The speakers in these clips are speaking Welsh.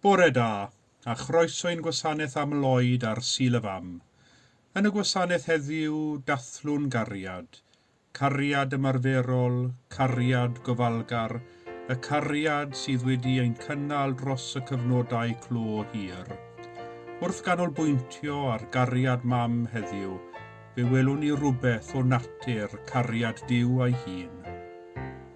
Bore da, a chroeso i'n gwasanaeth am Lloyd ar Sul y Fam. Yn y gwasanaeth heddiw, dathlwn gariad. Cariad ymarferol, cariad gofalgar, y cariad sydd wedi ein cynnal dros y cyfnodau clo hir. Wrth ganolbwyntio ar gariad Mam heddiw, fe welwn ni rywbeth o natur cariad Duw a'i hun.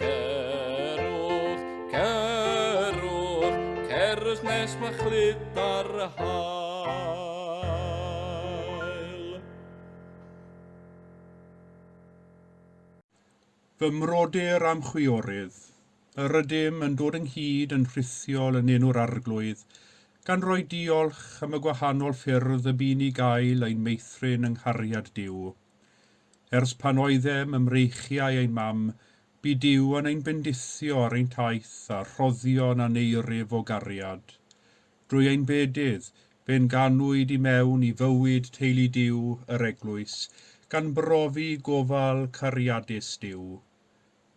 Cerwch, cerwch, cerwch nes mae chlyd ar y hael. Fy mrodyr a'm chwiorydd, yr ydym yn dod ynghyd yn rhithiol yn enw'r Arglwydd, gan roi diolch am y gwahanol ffyrdd y bu'n i gael ein meithrin yng nghariad Duw. Ers pan oeddem ym mreichiau ein mam, bu Duw yn ein bendithio ar ein taith â rhoddion aneirif o gariad. Drwy ein bedydd, fe'n ganwyd i mewn i fywyd teulu Duw, yr Eglwys, gan brofi gofal cariadus Duw.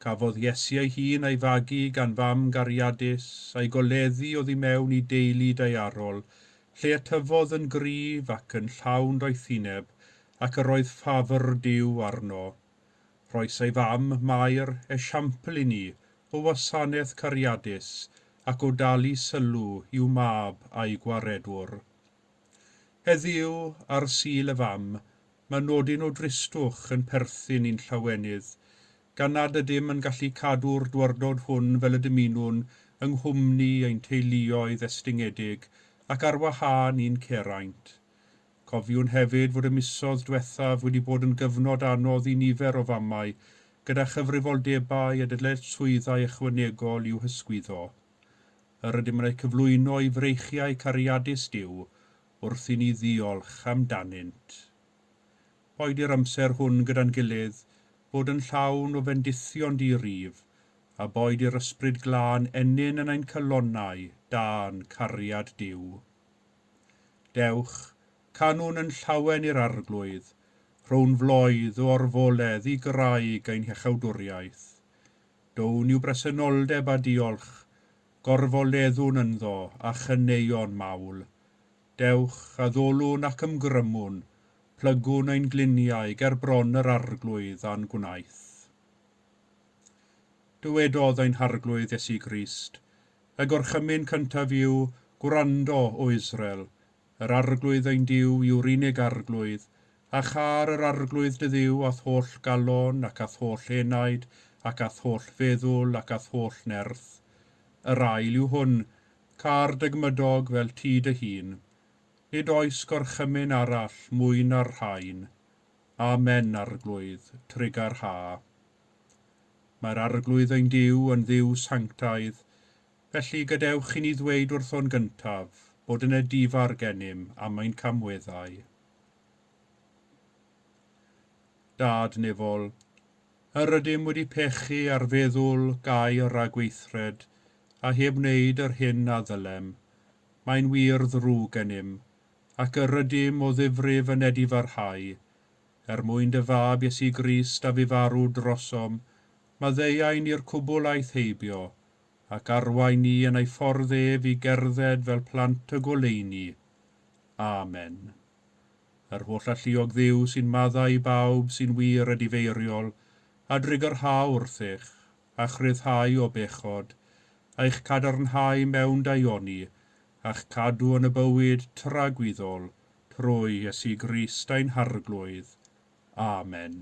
Cafodd Iesu ei hun a'i fagu gan fam gariadus, a'i goleddu oddi mewn i deulu daearol, lle y tyfodd yn gryf ac yn llawn doethineb, ac yr oedd ffafr Duw arno. Rhoes ei fam, Mair, esiampl i ni o wasanaeth cariadus ac o dalu sylw i'w mab a'i gwaredwr. Heddiw, ar Sul y Fam, mae nodyn o dristwch yn perthyn i'n llawenydd, gan nad ydym yn gallu cadw'r dywardod hwn fel y dymunwn yng nghwmni ein teuluoedd estyngedig ac ar wahân i'n ceraint. Cofiwn hefyd fod y misoedd diwethaf wedi bod yn gyfnod anodd i nifer o famau gyda chyfrifoldebau a dyletswyddau ychwanegol i'w hysgwyddo. yr ydym yn eu cyflwyno i freichiau cariadus Duw wrth i ni ddiolch amdanynt. Boed i'r amser hwn gyda'n gilydd fod yn llawn o fendithion di-rif, a boed i'r Ysbryd Glân ennyn yn ein calonnau dan cariad Duw. Dewch, canwn yn llawen i'r Arglwydd, rhown floedd o orfoledd i graig ein hechawdwriaeth. Down i'w bresenoldeb a diolch, gorfoleddwn ynddo a chaneuon mawl. Dewch, addolwn ac ymgrymwn, plygwn ein gliniau ger bron yr Arglwydd a'n gwnaeth. Dywedodd ein Harglwydd Iesu Grist, Y gorchymyn cyntaf yw, Gwrando, O Israel, Yr Arglwydd ein Duw yw'r unig Arglwydd, a châr yr Arglwydd dy Dduw a'th holl galon, ac a'th holl enaid, ac a'th holl feddwl, ac a'th holl nerth. Yr ail yw hwn, Câr dy gmydog fel ti dy hun. Nid oes gorchymyn arall mwy na'r rhain. Amen, Arglwydd, trugarha. Mae'r Arglwydd ein Duw yn Dduw sanctaidd, Felly, gadewch i ni ddweud wrtho'n gyntaf bod yna di-far gennym am ein camweddau. Dad Nefol, Yr ydym wedi pechu ar feddwl gau y rhagweithred a heb wneud yr hyn a ddylem. Mae'n wir ddrwg gennym, ac yr ydym o ddifrif yn edifarhau. Er mwyn dy Fab Iesu Grist a fu farw drosom, maddeuai ni'r cwbl aeth heibio, ac arwain ni yn ei ffordd ef i gerdded fel plant y goleuni. Amen. Yr holl alluog Dduw sy'n maddau i bawb sy'n wir a difeiriol, a drigyrhau wrthych, a'ch rhyddhau o bechod, a'ch cadarnhau mewn daioni, a'ch cadw yn y bywyd tragwyddol, trwy Iesu Grist ein Harglwydd. Amen.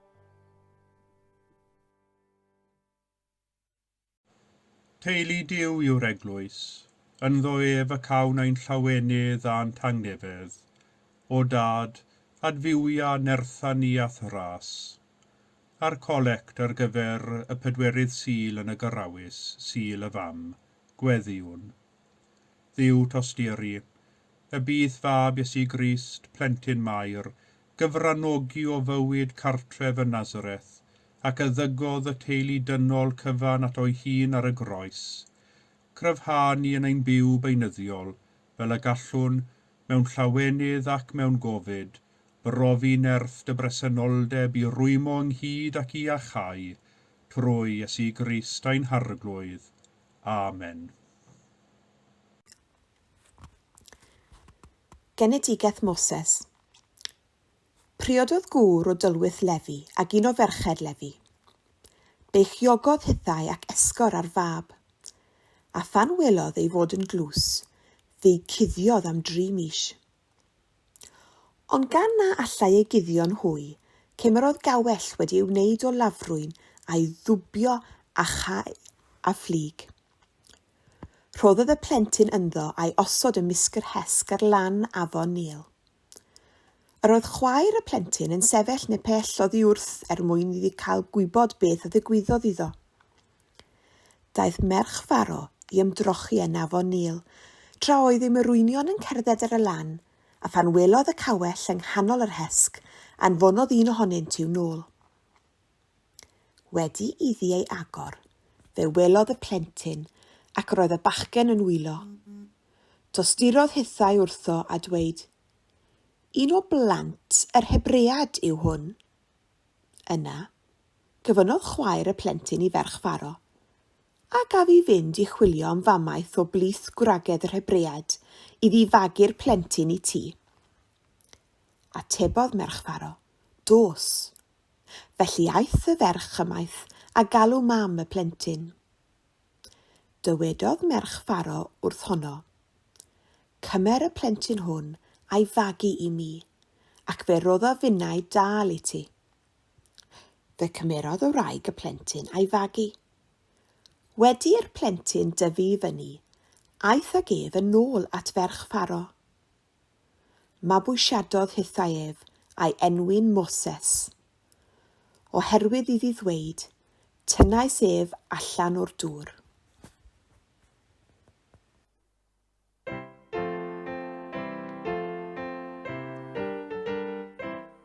Teulu Duw yw'r Eglwys. Ynddo ef y cawn ein llawenydd a'n tangnefedd. O Dad, adfywia nertha ni a'th Nghrâs. A'r colect ar gyfer y pedwerydd Sul yn y Gyrrawys, Sul y Fam, Gweddïwn. Dduw tosturi, y bydd Fab Iesu Grist, Plentyn Mair, gyfranogi o fywyd cartref yn Nazareth, ac a ddygodd y teulu dynol cyfan ato'i hun ar y groes, cryfha ni yn ein byw beunyddiol, fel y gallwn, mewn llawenydd ac mewn gofid, brofi nerth dy bresenoldeb i rwymo ynghyd ac i iachau, trwy Iesu Grist ein Harglwydd. Amen. Genedigaeth Moses Priododd gŵr o dylwyth Lefi ag un o ferched Lefi. Beichiogodd hithau ac esgor ar fab. A phan welodd ei fod yn glws, fe'i cuddiodd am dri mis. Ond gan na allai ei guddio'n hwy, cymerodd gawell wedi ei wneud o lafrwyn a'i ddwbio a chau a fflyg. Rhoddodd y plentyn ynddo a'i osod ym mysg'r hesg ar lan afon Nil. Yr oedd chwaer y plentyn yn sefyll ne pell oddi wrth er mwyn iddi cael gwybod beth a ddigwyddodd iddo. Daeth merch Faro i ymdrochi yn afon Nil, tra oedd ei morwynion yn cerdded ar y lan, a phan welodd y cawell yng nghanol yr hesg, anfonodd un ohonynt i'w nôl. Wedi iddi ei agor, fe welodd y plentyn ac roedd y bachgen yn wylo. Tosturodd hithau wrtho a dweud, Un o blant yr Hebread yw hwn. Yna, cyfynodd chwaer y plentyn i ferch Pharo, a gaf i fynd i chwilio am famaeth o blith gwragedd yr Hebread i ddifagu'r plentyn i ti. Atebodd merch Pharo, Dos, Felly aeth y ferch ymaith a galw mam y plentyn. Dywedodd merch Pharo wrth honno, Cymer y plentyn hwn a'i fagu i mi, ac fe roddo finnau dâl i ti. Fe cymerodd y wraig y plentyn a'i fagu. Wedi i'r plentyn dyfu i fyny, aeth ag ef yn ôl at ferch Pharo. Mabwysiadodd hithau ef, a'i enwyn Moses. Oherwydd iddi ddweyd, Tynnais ef allan o'r dŵr.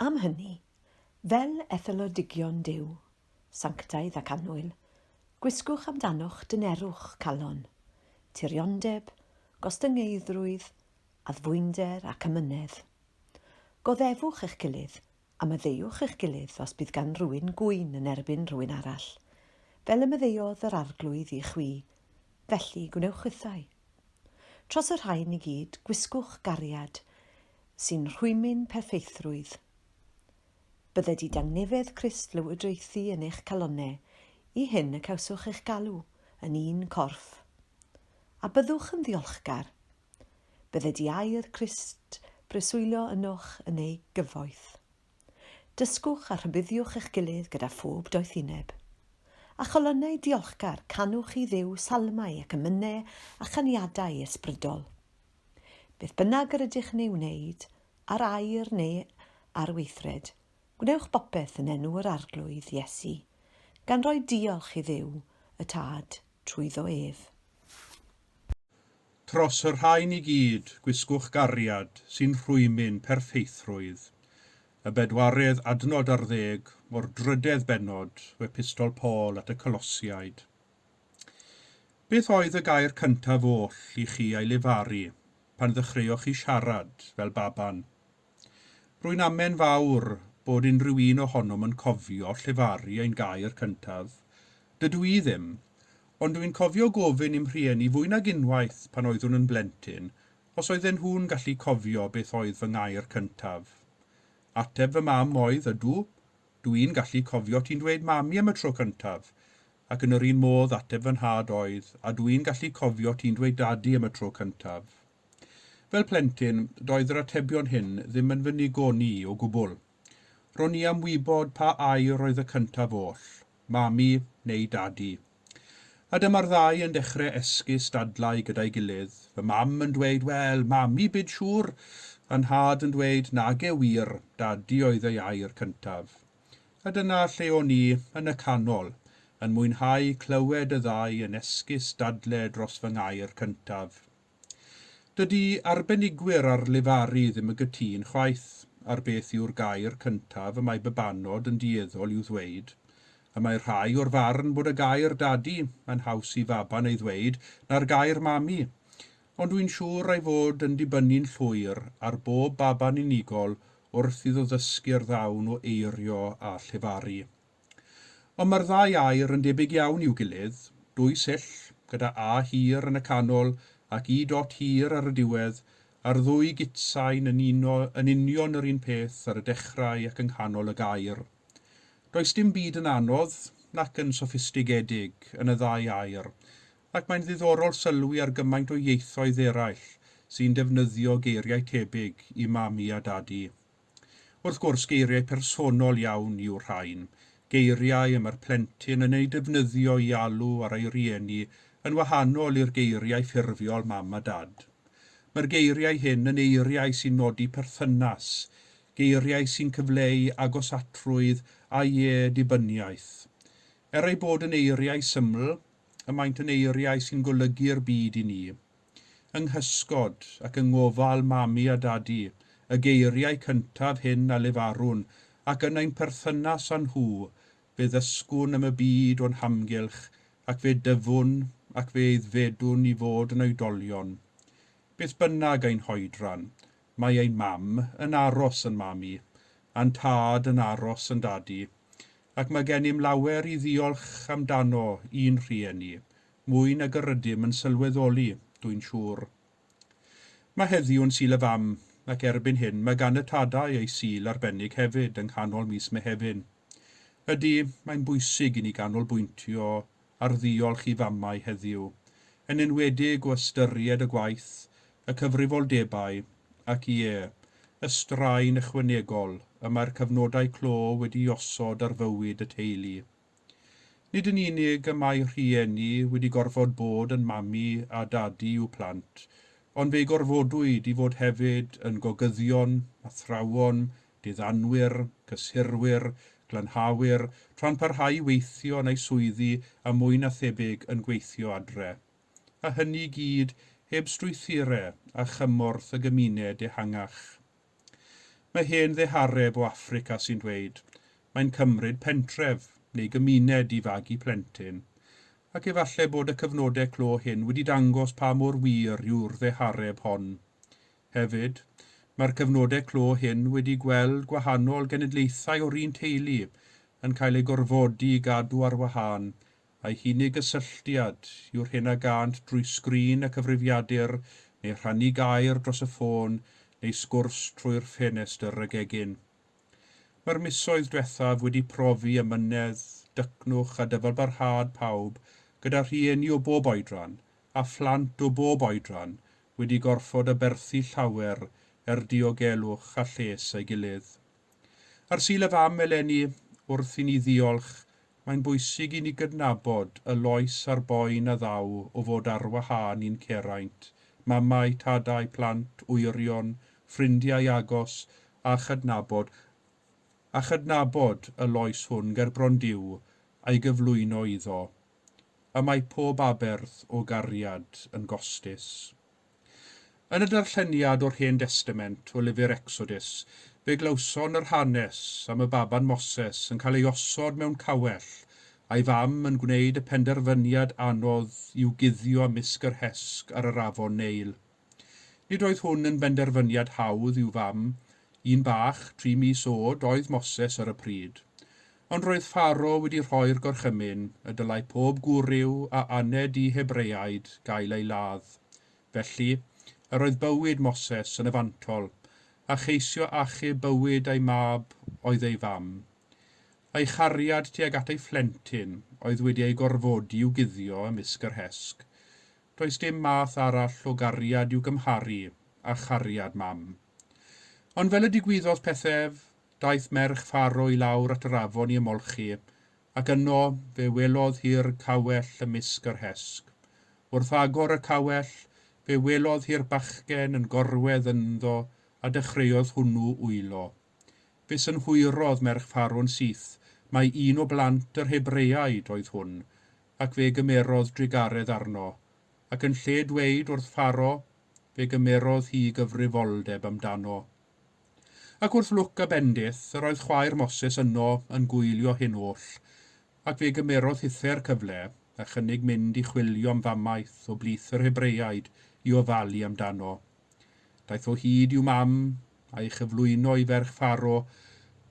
Am hynny, fel etholedigion Duw, sanctaidd ac annwyl, gwisgwch amdanoch dynerwch calon, tiriondeb, gostyngeiddrwydd, addfwynder ac amynedd. Goddefwch eich gilydd, a maddeuwch eich gilydd os bydd gan rywun gŵyn yn erbyn rhywun arall, fel y maddeuodd yr Arglwydd i chwi, felly gwnewch hithau. Tros y rhain i gyd, gwisgwch gariad sy'n rhwymyn perffeithrwydd. Bydde didangnefedd Crist lywodraethu yn eich calonnau, i hyn y cawswch eich galw, yn un corff. A byddwch yn ddiolchgar. Bydde di air Crist breswylio ynoch yn ei gyfoeth. Dysgwch a rhybuddiwch eich gilydd gyda phob doethineb. Â cholonnau diolchgar, canwch i Dduw salmau ac emynau a chaniadau ysbrydol. Beth bynnag yr ydych yn ei wneud, ar air neu ar weithred, gwnewch bopeth yn enw yr Arglwydd, Iesu, gan roi diolch i Dduw, y Tad, trwyddo ef. Tros y rhain i gyd, gwisgwch gariad sy'n rhwymyn perffeithrwydd. Y bedwaredd adnod ar ddeg o'r drydedd bennod o Epistol Paul at y Colosiaid. Beth oedd y gair cyntaf oll i chi ei lefaru pan ddechreuoch chi siarad fel baban? Rwy'n amen fawr bod unrhyw un ohonom yn cofio llefaru ein gair cyntaf. Dydw i ddim, ond dw i'n cofio gofyn i'm rhieni fwy nag unwaith pan oeddwn yn blentyn os oedden nhw'n gallu cofio beth oedd fy ngair cyntaf. Ateb fy mam oedd, Ydw, dw i'n gallu cofio ti'n dweud 'Mami' am y tro cyntaf, ac yn yr un modd ateb fy nhad oedd, A dw i'n gallu cofio ti'n dweud 'Dadi' am y tro cyntaf. Fel plentyn, doedd yr atebion hyn ddim yn fy nigon i o gwbl. Ro'n i am wybod pa air oedd y cyntaf oll, Mami neu Dadi. A dyma'r ddau yn dechre esgus dadlau gyda'i gilydd, fy mam yn dweud 'Wel, Mami bid siŵr! a Nhad yn dweud 'Nage wir, Dadi oedd ei air cyntaf. A dyna lle o'n i, yn y canol, yn mwynhau clywed y ddau yn esgus dadle dros fy ngair cyntaf. Dydy arbenigwyr ar lefaru ddim yn gytûn chwaith ar beth yw'r gair cyntaf y mae babanod yn dueddol i'w ddweud. Y mae rhai o'r farn bod y gair dadi yn haws i faban ei ddweud na'r gair mami, ond wy'n siŵr ei fod yn dibynnu'n llwyr ar bob baban unigol wrth iddo ddysgu'r ddawn o eirio a llefaru. Ond mae'r ddau air yn debyg iawn i'w gilydd, dwy sill, gyda A hir yn y canol ac Y dot hir ar y diwedd, a'r ddwy gitsain yn uno yn union yr un peth ar y dechrau ac yng nghanol y gair. Does dim byd yn anodd, nac yn soffistigedig, yn y ddau air, ac mae'n ddiddorol sylwi ar gymaint o ieithoedd eraill sy'n defnyddio geiriau tebyg i Mami a Dadi. Wrth gwrs, geiriau personol iawn yw'r rhain, geiriau y mae'r plentyn yn eu defnyddio i alw ar ei rieni yn wahanol i'r geiriau ffurfiol mam a dad. Mae'r geiriau hyn yn eiriau sy'n nodi perthynas, geiriau sy'n cyfleu agosatrwydd a lle-dibyniaeth. Er eu bod yn eiriau syml, y maent yn eiriau sy'n golygu'r byd i ni. Yng nghysgod ac yng ngofal Mami a Dadi, y geiriau cyntaf hyn a lefarwn, ac yn ein perthynas â nhw, fe ddysgwn am y byd o'n hamgylch, ac fe dyfwn ac fe aeddfedwn i fod yn oedolion. Beth bynnag ein hoedran, mae ein Mam yn aros yn Mami, a'n Tad yn aros yn Dadi, ac mae gennym lawer i ddiolch amdano i'n rhieni, mwy nag yr ydym yn sylweddoli, dwi'n siŵr. Mae heddiw yn Sul y Fam, ac erbyn hyn mae gan y Tadau eu Sul arbennig hefyd yng nghanol mis Mehefin. Ydy, mae'n bwysig i ni ganolbwyntio ar ddiolch i famau heddiw, yn enwedig o ystyried y gwaith, y cyfrifoldebau ac, ie, y straen ychwanegol y mae'r cyfnodau clo wedi'i osod ar fywyd y teulu. Nid yn unig y mae rhieni wedi gorfod bod yn mami a dadi i'w plant, ond fe'i gorfodwyd i fod hefyd yn gogyddion, athrawon, diddanwyr, cyssurwyr, glanhawyr, tra'n parhau i weithio yn eu swyddi a mwy na thebyg yn gweithio adre. A hynny i gyd heb strwythure a chymorth y gymuned ehangach. Mae hen ddehareb o Affrica sy'n dweud, Mae'n cymryd pentref, neu gymuned i fagu plentyn. Ac efallai bod y cyfnodau clo hyn wedi dangos pa mor wir yw'r ddehareb hon. Hefyd, mae'r cyfnodau clo hyn wedi gweld gwahanol genedlaethau o'r un teulu yn cael eu gorfodi i gadw ar wahân Ei hunig gysylltiad yw'r hyn a gânt drwy sgrin y cyfrifiadur neu rhannu gair dros y ffôn neu sgwrs trwy'r ffenestr y gegin. Mae'r misoedd diwethaf wedi profi amynedd, dycnwch a dyfalbarhad pawb gyda rhieni o bob oedran a phlant o bob oedran wedi gorfod aberthu llawer er diogelwch a lles ei gilydd. Ar Sul y Fam eleni, wrth i ni ddiolch, mae'n bwysig i ni gydnabod y loes a'r boen a ddaw o fod ar wahân i'n ceraint, mamau, tadau, plant, wyrion, ffrindiau agos, a chydnabod, a chydnabod y loes hwn gerbron Duw a'i gyflwyno iddo. Y mae pob aberth o gariad yn gostus. Yn y darlleniad o'r Hen Destament o lyfr Ecsodus, fe glywson yr hanes am y baban Moses yn cael ei osod mewn cawell, a'i fam yn gwneud y penderfyniad anodd i'w guddio ymysg yr hesg ar yr afon Neil. Nid oedd hwn yn benderfyniad hawdd i'w fam, un bach, tri mis oed, oedd Moses ar y pryd. Ond roedd Pharo wedi rhoi'r gorchymyn y dylai pob gwryw a aned i Hebreaid gael ei ladd. Felly, yr oedd bywyd Moses yn y fantol, a cheisio achub bywyd ei mab oedd ei fam. Ei chariad tuag at ei phlentyn oedd wedi ei gorfodi i'w guddio ymysg yr hesg. Does dim math arall o gariad i'w gymharu â chariad mam. Ond fel y digwyddodd pethau ef, Daeth merch Pharo i lawr at yr afon i ymolchi, ac yno fe welodd hi'r cawell ymysg yr hesg. Wrth agor y cawell, fe welodd hi'r bachgen yn gorwedd ynddo a dechreuodd hwnnw wylo. Fe synhwyrodd merch Pharo'n syth mai un o blant yr Hebreaid oedd hwn, ac fe gymerodd drugaredd arno, ac yn lle dweud wrth Pharo, fe gymerodd hi gyfrifoldeb amdano. Ac wrth lwc a bendith, yr oedd chwaer Moses yno yn gwylio hyn oll, ac fe gymerodd hithau'r cyfle, a chynnig mynd i chwilio am famaeth o blith yr Hebreaid i ofalu am dano. Daeth o hyd i'w mam, a'i chyflwyno i ferch Pharo,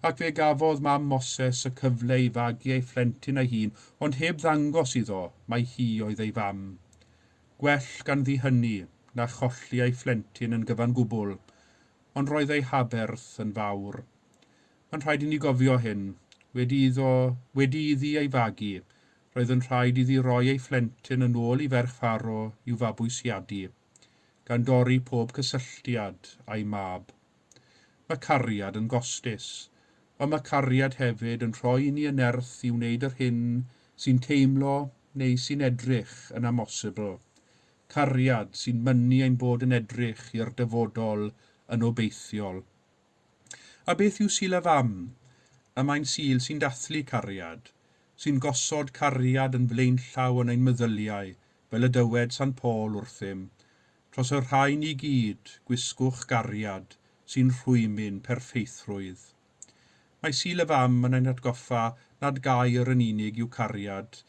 ac fe gafodd mam Moses y cyfle i fagu ei phlentyn a'i hun, ond heb ddangos iddo mai hi oedd ei fam. Gwell ganddi hynny, na cholli ei phlentyn yn gyfan gwbl, ond roedd ei haberth yn fawr. Mae'n rhaid i ni gofio hyn. Wedi iddo, wedi iddi ei fagu, roedd yn rhaid iddi roi ei phlentyn yn ôl i ferch Pharo i'w fabwysiadu, gan dorri pob cysylltiad â'i mab. Mae cariad yn gostus, ond mae cariad hefyd yn rhoi i ni y nerth i wneud yr hyn sy'n teimlo neu sy'n edrych yn amosibl, cariad sy'n mynnu ein bod yn edrych i'r dyfodol yn obeithiol. A beth yw Sul y Fam? Y mae'n Sul sy'n dathlu cariad, sy'n gosod cariad yn flaenllaw yn ein meddyliau, fel y dywed Sant Paul wrthym, Tros y rhain i gyd, gwisgwch gariad sy'n rhwymyn perffeithrwydd. Mae Sul y Fam yn ein hatgoffa nad gair yn unig yw cariad,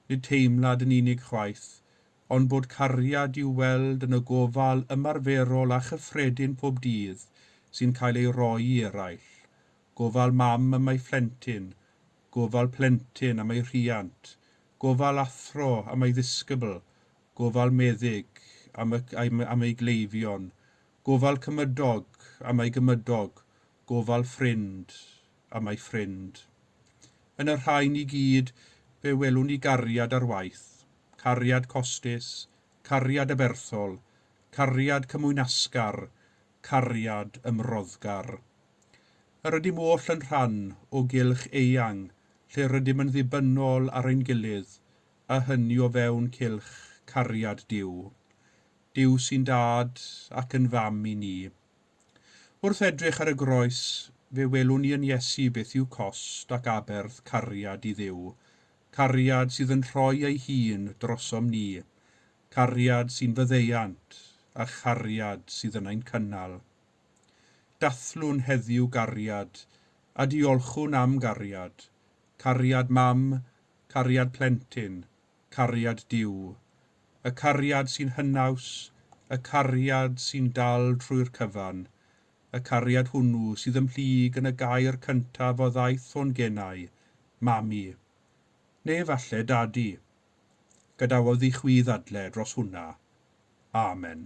nid teimlad yn unig chwaith, ond bod cariad i'w weld yn y gofal ymarferol a chyffredin pob dydd sy'n cael ei roi i eraill, gofal mam am ei phlentyn, gofal plentyn am ei rhiant, gofal athro am ei ddisgybl, gofal meddyg am y am ei gleifion, gofal cymydog am ei gymydog, gofal ffrind am ei ffrind. Yn y rhain i gyd, fe welwn ni gariad ar waith. cariad costus, cariad aberthol, cariad cymwynasgar, cariad ymroddgar. Yr ydym oll yn rhan o gylch eang lle rydym yn ddibynnol ar ein gilydd, a hynny o fewn cylch cariad Duw. Duw sy'n Dad ac yn Fam i ni. Wrth edrych ar y groes, fe welwn ni yn Iesu beth yw cost ac aberth cariad i Dduw, cariad sydd yn rhoi ei hun drosom ni, cariad sy'n faddeuant, a chariad sydd yn ein cynnal. Dathlwn heddiw gariad, a diolchwn am gariad, cariad mam, cariad plentyn, cariad Duw, y cariad sy'n hynaws, y cariad sy'n dal trwy'r cyfan, y cariad hwnnw sydd ymhlyg yn y gair cyntaf a ddaeth hwn genai, Mami. Neu efallai Dadi. Gadawodd i chwi ddadle dros hwnna. Amen.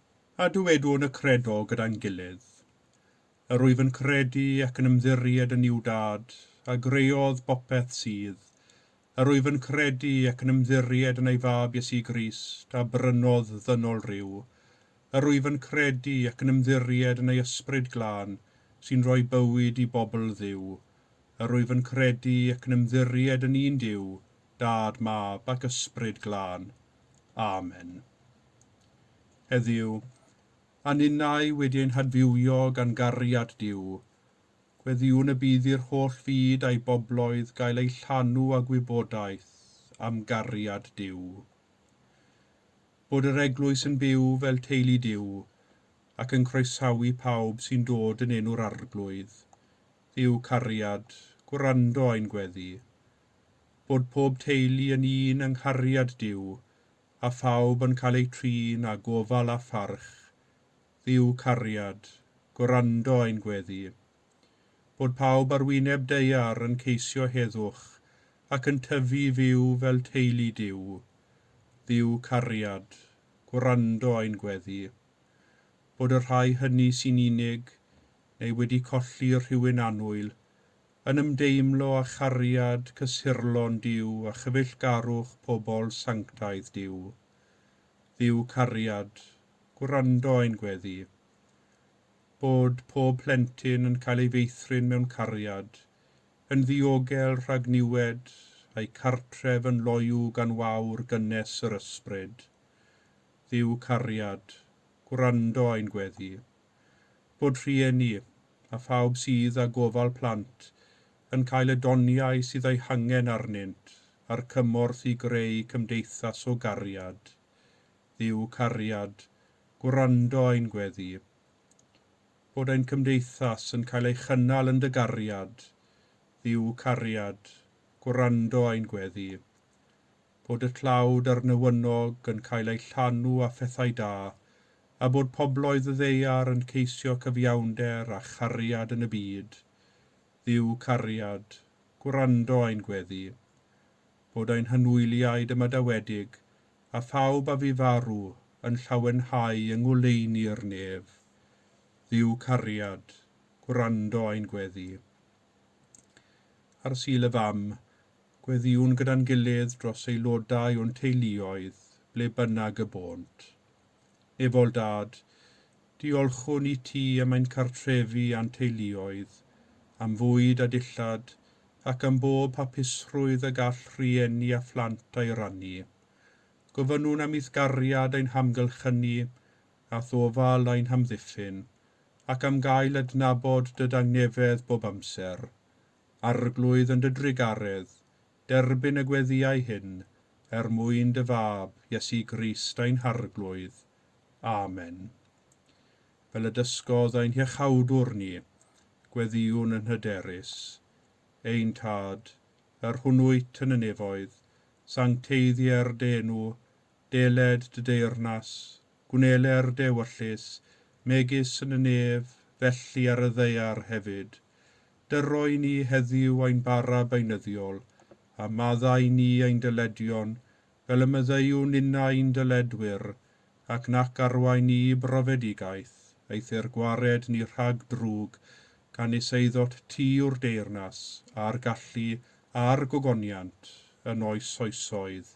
a dywedwn y credo gyda'n gilydd, Yr wyf yn credu ac yn ymddiried yn Nuw Dad, a greodd bopeth sydd, Yr wyf yn credu ac yn ymddiried yn ei Fab Iesu Grist, a brynodd ddynol ryw, Yr wyf yn credu ac yn ymddiried yn ei Ysbryd Glân, sy'n rhoi bywyd i bobl Dduw, Yr wyf yn credu ac yn ymddiried yn un Duw, Dad, Mab, ac Ysbryd Glân. Amen. Heddiw, a ninnau wedi ein hadfywio gan gariad Duw, gweddïwn y bydd i'r holl fyd a'i bobloedd gael eu llanw â gwybodaeth am gariad Duw. Bod yr Eglwys yn byw fel teulu Duw ac yn croesawu pawb sy'n dod yn enw'r Arglwydd, Dduw cariad, gwrando ein gweddi, Bod pob teulu yn un yng nghariad Duw, a phawb yn cael eu trin â gofal a pharch, Dduw cariad, gwrando ein gweddi. Bod pawb ar wyneb daear yn ceisio heddwch ac yn tyfu i fyw fel teulu Duw, Dduw cariad, gwrando ein gweddi. Bod y rhai hynny sy'n unig neu wedi colli rhywun annwyl yn ymdeimlo â chariad cysurlon Duw a chyfeillgarwch pobl sanctaidd Duw. Dduw cariad, gwrando ein gweddi. Bod pob plentyn yn cael ei feithrin mewn cariad, yn ddiogel rhag niwed, a'u cartref yn loyw gan wawr gynnes yr Ysbryd. Dduw cariad, gwrando ein gweddi. bod rhieni, a phawb sydd â gofal plant, yn cael y doniau sydd eu hangen arnynt a'r cymorth i greu cymdeithas o gariad. Dduw cariad, gwrando ein gweddi. Bod ein cymdeithas yn cael ei chynnal yn dy gariad, Dduw cariad, gwrando ein gweddi. bod y tlawd a'r newynog yn cael eu llanw â phethau da, a bod pobloedd y ddaear yn ceisio cyfiawnder a chariad yn y byd. Dduw cariad, gwrando ein gweddi. Bod ein hynwyliaid ymadawedig, a phawb a fu farw, yn llawenhau yng ngoleuni'r nef. Dduw cariad, gwrando ein gweddi. Ar Sul y Fam, gweddïwn gyda'n gilydd dros aelodau o'n teuluoedd ble bynnag y bônt. Nefol Dad, diolchwn i ti am ein cartrefi a'n teuluoedd, am fwyd a dillad, ac am bob hapusrwydd y gall rhieni a phlant a'i rannu. Gofynnwn am eithgariad ein hamgylchynu a thofal ein hamddiffyn, ac am gael adnabod dy dangnefedd bob amser. Arglwydd yn dy drugaredd, derbyn y gweddïau hyn, er mwyn dy Fab, Iesu Grist ein Harglwydd. Amen. Fel y dysgodd ein Hiachawdwr ni, gweddïwn yn hyderus. Ein Tad, yr hwnnwyt yn y nefoedd, sancteiddier dy enw, deled dy deyrnas, gwnele'r dewyllys, megis yn y nef, felly ar y ddaear hefyd. Dyro i ni heddiw ein bara beunyddiol, a madda i ni ein dyledion, fel y myddeuwn inna i'n dyledwyr, ac nac arwain ni i brofedigaeth, eithr gwared ni rhag drwg, gan is eiddot ti yw'r deyrnas, a'r gallu, a'r gogoniant, yn oes oesoedd.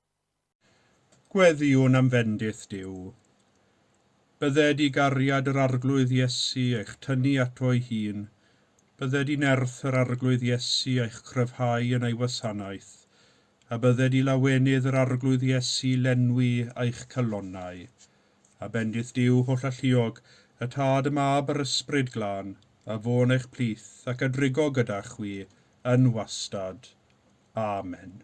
Gweddïwn am fendith Duw. Bydded i gariad yr Arglwydd Iesu eich tynnu ato'i hun, bydded i nerth yr Arglwydd Iesu eich cryfhau yn ei wasanaeth, a bydded i lawenydd yr Arglwydd Iesu lenwi eich calonnau. A bendith Duw hollalluog, y Tad, y Mab, a'r Ysbryd Glân, a fo'n eich plith, ac a drigo gyda chwi, yn wastad. Amen.